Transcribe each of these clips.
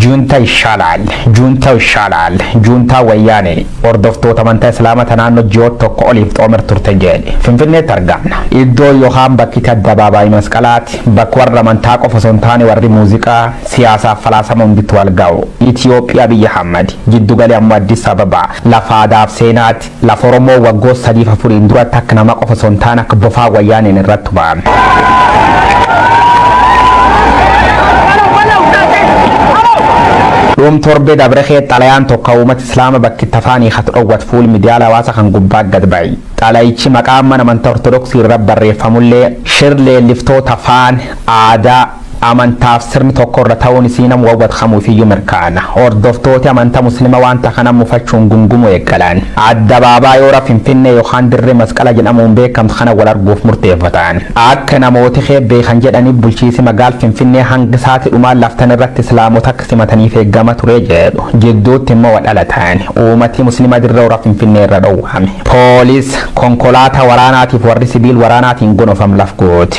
Juuntaa Ishaalaal Juuntaa Ishaalaal Juuntaa Wayyaanee hordoftoota amantaa Islaamata naannoo ji'oota tokko oliif xoomer turte jedhe Finfinneetti argamna. Iddoo yookaan bakki itti addabaabaayii masqalaati bakka warra amantaa qofa osoo hin taane warri muuziqaa, siyaasaaf falaasama hunditti wal ga'u. Itiyoophiyaa biyya Hammadi. Jiddugali ammoo Addis Ababa. Lafa aadaaf seenaati. Lafa Oromoo waggoota sadiif afuriin duratti akka namaa qofa osoo hin taane akka bofaa wayyaaneen irratti tumaame. Dhuum torbee dabre kee xalayaan tokko uummata Islaama bakki itti afaan hiikatu dhowwat fuul miidiyaa hawaasa kan gubbaa gad ba'e. Xalayichi maqaa mana amantaa Ortodoksii irra barreeffamullee shir leelliftoota afaan, aadaa, Amantaaf sirni tokko irra ta'uun isii namu waan wadkamuufiyyuu mirkaana. Hordoftooti amanta Muslima wanta kana mufachuun gungumuu eegalan. Addabaabaayoora Finfinnee yokaan Dirree Masqala jedhamuun beekamtu kana wal arguuf murteeffatan. Akka namooti kee beekan jedhaniif bulchiisi magaal Finfinnee hanga saati dhumaa laftan irratti Islaamota akka simataniif eegama ture jedhu. Jidduutti immoo wal dhalatan. Uumati Muslima Dirree Hora Finfinnee irra dhowwame. Police, Konkolaataa waraanaatiif warri sibiil waraanaatiin gonofam laf goote.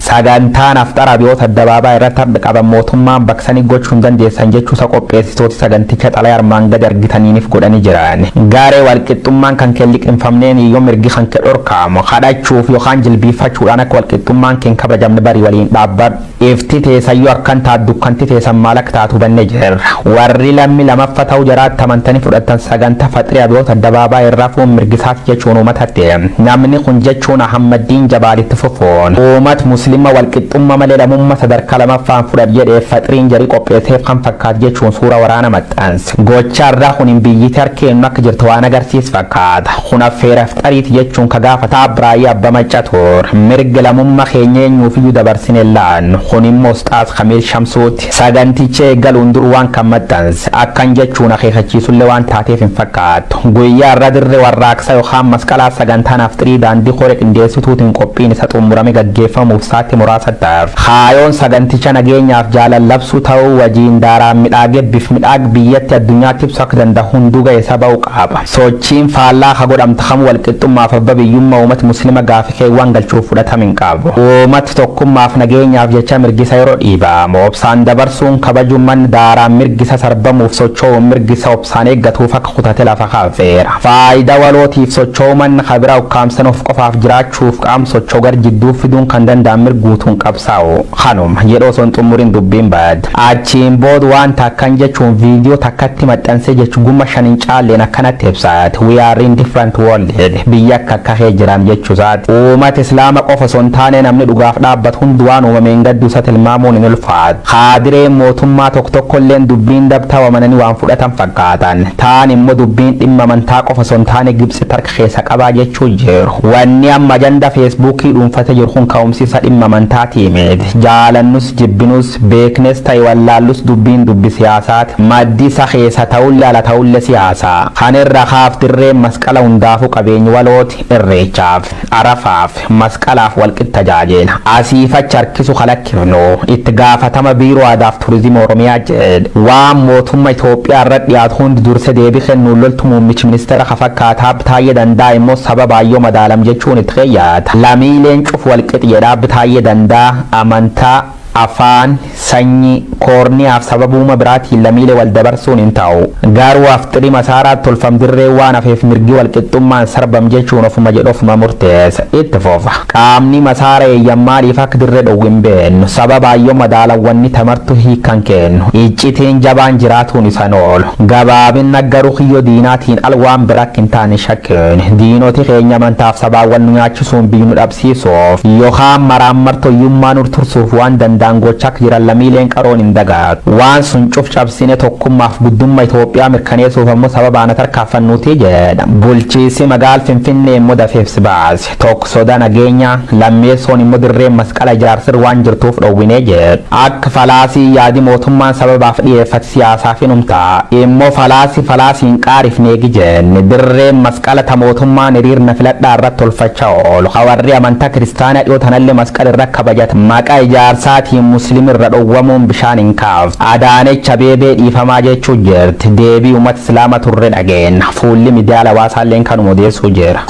Sagantaan Afxaraa biyyoota addabaabaa irratti ardha qaban mootummaan baqsanii gochuu hin dandeessan jechuu isaa qopheessitooti saganticha xalayaa armaan gadi argitaniinif godhanii jiran. Garee walqixxummaan kan kee hin liqimfamneen yoo mirgi kan kee dhorkaamu, kadhachuuf yookaan jilbiiffachuudhaan akka walqixxummaan kee hin kabajamne barii waliin dhaabbadhu. Ifti teessan yoo akkan taatu dukkanti teessan maal akka taatu hubannee jirra. Warri lammi lamaffa ta'uu jaraatti amantanii fudhattan sagantaa Faxria biyyoota addabaabaa irra hafuun mirgi isaa jechuun uumatatti namni kun jechuun Ahammaddiin Jabaal itti fufuun uumat muslimma walqixxumma malee lamumma sadarkaa lamaffaan fudhat jedheef faxriin jari qopheesseef kan fakkaat jechuun suura waraana maxxanse. Gochaan ra kun biyyiti harki eennu akka jirtu waan agarsiis fakkaata. Kun affeera ifxariiti jechuun ka gaafata Abraayii Abba Macca tur. Mirga lamumma keenya eenyuufiyyu dabarsine hin laannu. Kun immo Usxaaz Kamiil Shamsuuti. Saganticha eegaluun dur waan kan maxxanse akkan jechuun akeekachiisullee waan taateef hin fakkaatu. Guyyaa har'aa Dirree Warraaqsaa yookaan Masqalaa sagantaan Afxirii Daandii Koree Qindeessituutiin qophiin isa xummurame gaggeeffamuuf saatti muraasatti hafe. Kaayoon saganticha nageenyaaf jaalal labsuu ta'uu wajiin daaraan midhaage bif midhaag biyyatti addunyaatti ibsu akka danda'u hunduu ga'eesa ba'u qaaba. Sochiin faallaa ka godhamtu kamuu walqixxummaaf abba biyyumma uumati muslima gaafii keewwan galchuuf fudhatam hin qabu. Uumat tokkummaaf nageenyaaf jecha mirgisa yeroo dhiibaamu obsaan dabarsuun kabaju man daaraan mirgisa sarbamuuf sochoo'uun mirgisa obsaan eeggatuuf akka kutate lafa kaafeera. Faayida walootiif sochoo'u man ka bira ukkaamsan of qofaaf jiraachuuf qaam sochoo gar jidduu fiduun kan danda'an mirguutuun qabsaa'u. Kanuma. Jedhu osoo hin xummurin dubbiin bad. Achiin bood waan takkan jechuun video takkatti maxxansee jech gumma shan hin caalleen akkanatti ibsa. We are in different world. Biyya akka akka kee jiraam jechuu saat. Uumat Islaama qofa osoo hin taanee namni dhugaaf dhaabbat hund waan uumame hin gadduu sa tilmaamuun hin ulfaat. Kaadireen mootummaa tok tokkolleen dubbiin dab ta wamananii waan fudhatan fakkaatan. Taan immo dubbiin dhimma amantaa qofa osoo hin taane Gibtsi tark keessa qabaa jechuu jiru. Wanni amma ajanda feesbuukii dhuunfate jiru kun ka'umsi isa dhimma amantaa tiimit. Jaalannus jibbinus. Beeknes ta'e wallaallus dubbiin dubbi siyaasaati. Maddi isa keessa ta'ulle ala ta'ulle siyaasa. Kana irra kaaf dirreen masqala hundaafuu qabeenyi walooti. Irreechaaf, Arafaaf, Masqalaaf walqix tajaajeela. Asiif achi harkisu ka lakkifnu itti gaafatama Biiroo Aadaaf Turizimi Oromiyaa jedhe. Waan mootumma Itoophiyaa irra dhiyaatu hundi durse deebi kennuun loltu muummichi ministeera ka fakkaata Aab Taayyee Danda'a immoo sababaan yoo madaalam jechuun itti keeyyata. Lamiileen cufu walqix jedha Aab Taayyee Danda'a. Amantaa. Afaan, sanyii, koorniyaaf sababuuma biraatiin lamiile wal dabarsuun hin taa'u. Gaaruu afxiri masaaraa tolfam dirree waan hafeef mirgi wal qixxummaan sarbam jechuun ofuma jedhu ofuma murteessa. Itti fufa. Qaamni masaara eeyyan maaliif akka dirre dhowwu hin beennu. Sababaan yoo madaalawwanni tamartu hiikkan keennu. Iccitiin jabaan jiraatuun isan oolu. Gabaabinna garu kiyyo diinaatiin al waan bira akka hin taane shakkiin. Diinoti keenya amantaaf sabaan wal nu nyaachisuuf. sun biyy nu dhabsiisuuf yookaan maraammartoyyummaa nur tursuuf waan danda'an gochaa akka jiran lamiileen qaroon hin dagaatu. Waan sun cuf cabsinee tokkummaaf guddumma Itoophiyaa mirkaneesuuf ammo sababaan ha tarkaaffannuutii jedha. Bulchiisi magaal Finfinnee immo dafee ibsi baase. Tokk soda nageenya, lammeessoon immo dirreen masqala ijaarsir waan jirtuuf dhowwinee jedhu. Akk falaasii yaadi mootummaan sababaaf dhiyeeffate siyaasaaf inum ta'a. Immo falaasi falaasi hin qaarifneegi jenne. Dirreen Qalata mootummaan hiriir na filadhaa irrat tolfacha oolu ka warri amanta kiristaana dhiyoo tanalle masqal irra kabajata maqa ijaarsaatiin muslim irra dhowwamuun bishaan hin kaaftu. Adaanech Abeebee dhiifamaa jeechuu jirti. Deebii umat islaama turre dhageenna. Fuulli midiyaal hawaasaalleen kanuma odeessuu jira.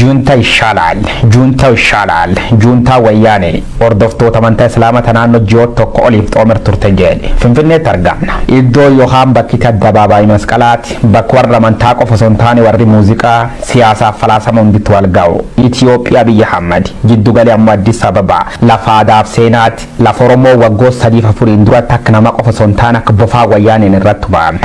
Juuntaa Ishaala'al Juuntaa Ishaala'al Juuntaa Wayyaanee hordoftoota amantaa Islaamata naannoo ji'oota tokko oliif xoomer turte jedhe Finfinneetti argamna. Iddoo yookaan bakki itti addabaabaayii masqalaati bakka warra amantaa qofa osoo hin taane warri muuziqaa, siyaasaaf falaasama hunditti wal ga'u. Itiyoophiyaa biyya Hammadi. Jiddugali ammoo Addis Ababa. Lafa aadaaf seenaati. Lafa Oromoo waggoota sadiif afuriin duratti akka namaa qofa osoo hin taane akka bofaa wayyaaneen irratti tumaame.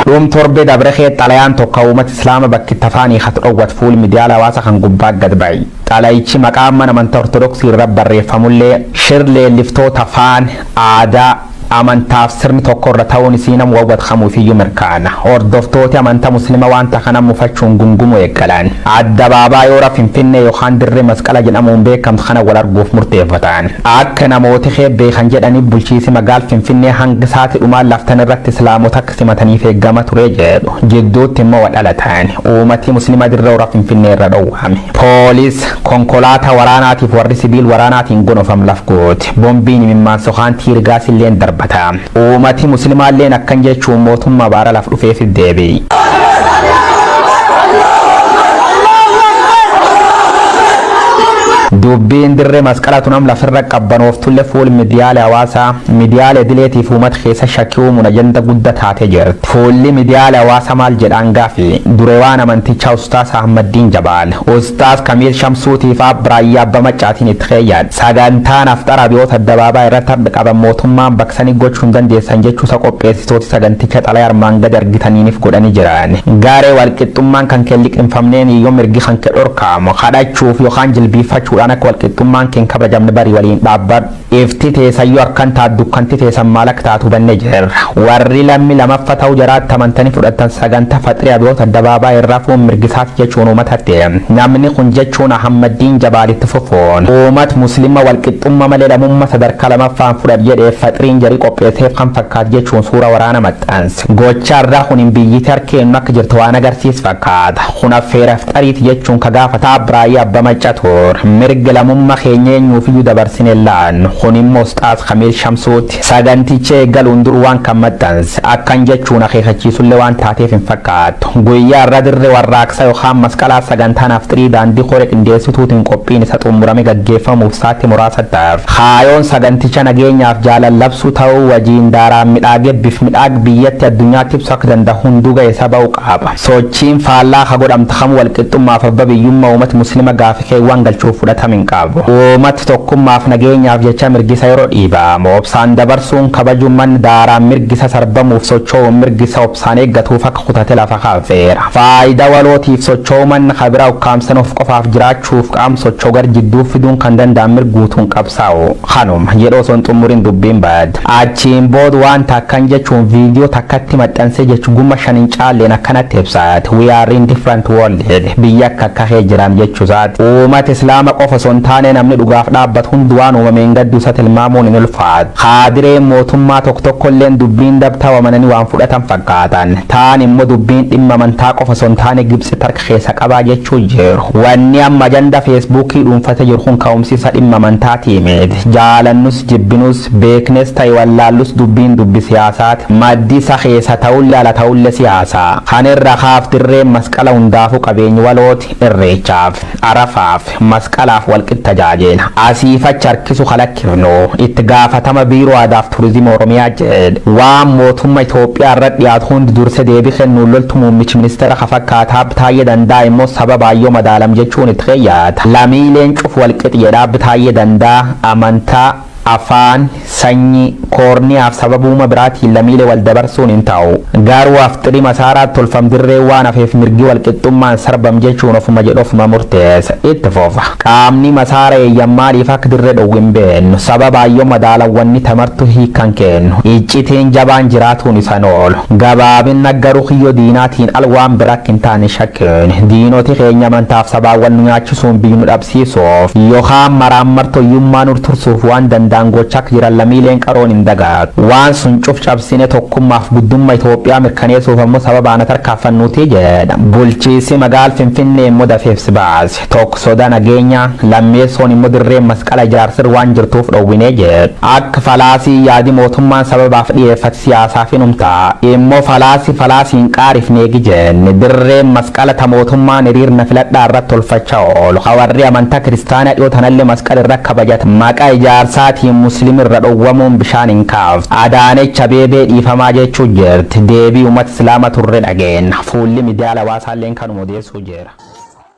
Dhuum torbee dabre kee xalayaan tokko uummata Islaama bakki itti afaan hiikatu dhowwat fuul miidiyaa hawaasa kan gubbaa gad ba'e. Xalayichi maqaa mana amantaa Ortodoksii irra barreeffamullee shir leelliftoota afaan, aadaa, Amantaaf sirni tokko irra ta'uun isii namu waan wadkamuufiyyu mirkaana. Hordoftooti amanta Muslima wanta kana mufachuun gungumuu eeggalan. Addabaabaayoora Finfinnee yokaan Dirree Masqala jedhamuun beekamtu kana wal arguuf murteeffatan. Akka namooti kee beekan jedhaniif bulchiisi magaal Finfinnee hanga saati dhumaa laftan irratti Islaamota akka simataniif eeggama ture jedhu. Jidduutti immoo wa dhalatan. Uumati Muslima Dirre Hora Finfinnee irra dhowwame. Police, Konkolaataa waraanaatiif warri sibiil waraanaatiin gonofam laf goote. Bombiin imimmaan sokaan tiirgaasilleen darbata. Uumati muslimaalleen akkan jechuun mootummaa baara laf dhufeefit deebi. Dubbiin dirre masqala tun am lafirra qabbanooftullee fuul midiyaalee hawaasaa midiyaalee idileetiif uumata keessa shakkii uumuun ajanda gudda taatee jirti. Fuulli midiyaalee hawaasaa maal jedhaan gaafi durewaan amantichaa Ustaas Ahmaddiin Jabaal, Ustaas Kamiil Shamsuutiifaa Biraayyaa Abba Maccaatiin itti keeyyadha. Sagantaan Afxaraa Abiyoot Addabaabaa irratti hardha qaban mootummaan baksani gochu hin dandeessan jechuusa qopheessitooti saganticha xalaya armaan gadi argitaniinif godhani jiran. Garee walqixxummaan kanke hin liqimfamneen yoo mirgi kanke dhorkaamu, kadhachuuf yokaan jilbiiffachuudhaan akka walqixxummaan ke hin kabajamne bari waliin dhaabbadhu. Ifti teesan yoo akkan taatu dukkanti teesan maal akka taatu hubanne jirra. Warri lammi lamaffa ta'u jaraatti amantani fudhattan saganta faxri Abiyoot Addabaabaa hin rafuun mirgi isaa jechuun uumatatti namni kun jechuun Ahammaddiin Jabaal itti fufuun uumat muslimma walqixxumma malee lamumma sadarkaa lamaffaan fudhat jedheef faxriin jari qopheesseef kan fakkaat jechuun suura waraana maxxanse. Gochaan ra kun biyyiti harki eennu akka jirtu waan agarsiis fakkaata. Kun affeera ifxariiti jechuun ka gaafata Abraayii Abba Macca tur. Mirga lamumma keenya eenyuufiyyu dabarsine hin laannu. Kun immo Usxaaz Kamiil Shamsuuti. Saganticha eegaluun dur waan kan maxxanse akkan jechuun akeekachiisullee waan taateef hin fakkaatu. Guyyaa har'aa Dirree Warraaqsaa yookaan Masqalaa sagantaan Afxirii Daandii Koree Qindeessituutiin qophiin isa xummurame gaggeeffamuuf saatti muraasatti hafe. Kaayoon saganticha nageenyaaf jaalal labsuu ta'uu wajiin daaraan midhaage bif midhaag biyyatti addunyaatti ibsu akka danda'u hunduu ga'eesa ba'u qaaba. Sochiin faallaa ka godhamtu kamuu walqixxummaaf abba biyyumma uumati muslima gaafii Keewwan galchuuf fudhatama hin qabu. Uummati tokkummaaf nageenyaaf jecha mirgisa yeroo dhiibaamu obsaan dabarsuun kabaju man daaraan mirgisa sarbamuuf sochoo'uun mirgisa obsaan eeggatuuf akka kutate lafa kaafeera. Faayida walootiif sochoo'u man ka bira ukkaamsan of qofaaf jiraachuuf qaam sochoo gar jidduu fiduun kan danda'an mirguutuun qabsaa'u. Kanuma. Jedhu osoo hin xummurin dubbiin bad. Achiin bood waan takkan jechuun video takkatti maxxansee jech gumma shan hin caalleen akkanatti ibsa. We are in different world jedhe. Biyya akka akka kee jiram jechu saati. Uumat Islaama qofa osoo hin taanee namni dhugaaf dhaabbatu hundi waan uumameen gaddu isa tilmaamuun hin ulfaatu. Kaadireen mootummaa tok tokkolleen dubbiin dab ta'u amananii waan fudhatan fakkaatan. Taan immo dubbiin dhimma amantaa qofa osoo hin taane Gibtsit harka keessa qabaa jechuu jiru. Wanni amma ajanda Feesbuukii dhuunfate jiru kun ka'umsi isa dhimma amantaati miit. Jaalannus jibbinus. Beeknes ta'e wallaallus dubbiin dubbi siyaasaati. Maddi isa keessa ta'ulle ala ta'ulle siyaasa. Kana irra kaaf dirreen masqala hundaafuu qabeenyi walooti. Irreechaaf, Arafaaf, Masqalaaf walqix tajaajeela. Asiif achi harkisu ka lakkifnu itti gaafatama Biiroo Aadaaf Turizimi Oromiyaa jedhe. Waan mootumma Itoophiyaa irra dhiyaatu hundi durse deebi kennuun loltu muummichi ministeera ka fakkaata Aab Taayyee Danda'a immoo sababaan yoo madaalamu jechuun itti keeyyata. Lamiileen cufu walqix jedha Aab Taayyee Danda'a. Amantaa. Afaan, sanyii, koorniyaaf sababuuma biraatiin lamiile wal dabarsuun hin taa'u. Gaaruu afxiri masaaraa tolfam dirree waan hafeef mirgi wal qixxummaan sarbam jechuun ofuma jedhu ofuma murteessa. Itti fufa. Qaamni masaara eeyyam maaliif akka dirre dhowwu hin beennu. Sababaan yoo madaalan wanni tamartu hiika hin keennu. Iccitiin jabaan jiraatuun isa hin oolu. Gabaabinna garu kiyyoo diinaatiin al waan bira akka hin taane hin shakkiin. Diinoti keenya amantaaf sabaan wal nu nyaachisuun biyyi nu dhabsiisu. siisuuf yookaan maraammartoyyummaa nur tursuuf waan danda'an gochak jiran lamiileen qaroon hin dagaat. Waan sun cuf cabsine tokkummaaf guddumma Itoophiyaa mirkaneesuuf ammo sababa ana tarkaaffannuuti jedha. Bulchiisi magaal Finfinnee immo dafee ibs baase. Tokk soda nageenyaa, lammeessoon immo dirreen masqala ijaarsir waan jirtuuf dhowwine jedh. Akk falaasii yaadi mootummaan sababaaf dhiyeeffat siyaasaaf inum ta'a. Immo falaasi falaasi hin qaarifneegi jenne. Dirreen mas. Qalata mootummaan hiriir na filadhaa irrat tolfacha oolu ka warri amantaa kiristaanaa dhiyoo tanalle masqal irra kabajatan maqa ijaarsaatiin muslim irra dhowwamuun bishaan hin kaaftu. Adaanech Abeebee dhiifamaa jeechuu jirti. Deebii umat islaama turre dhageenna. Fuulli midiyaal hawaasaalleen kanuma odeessuu jira.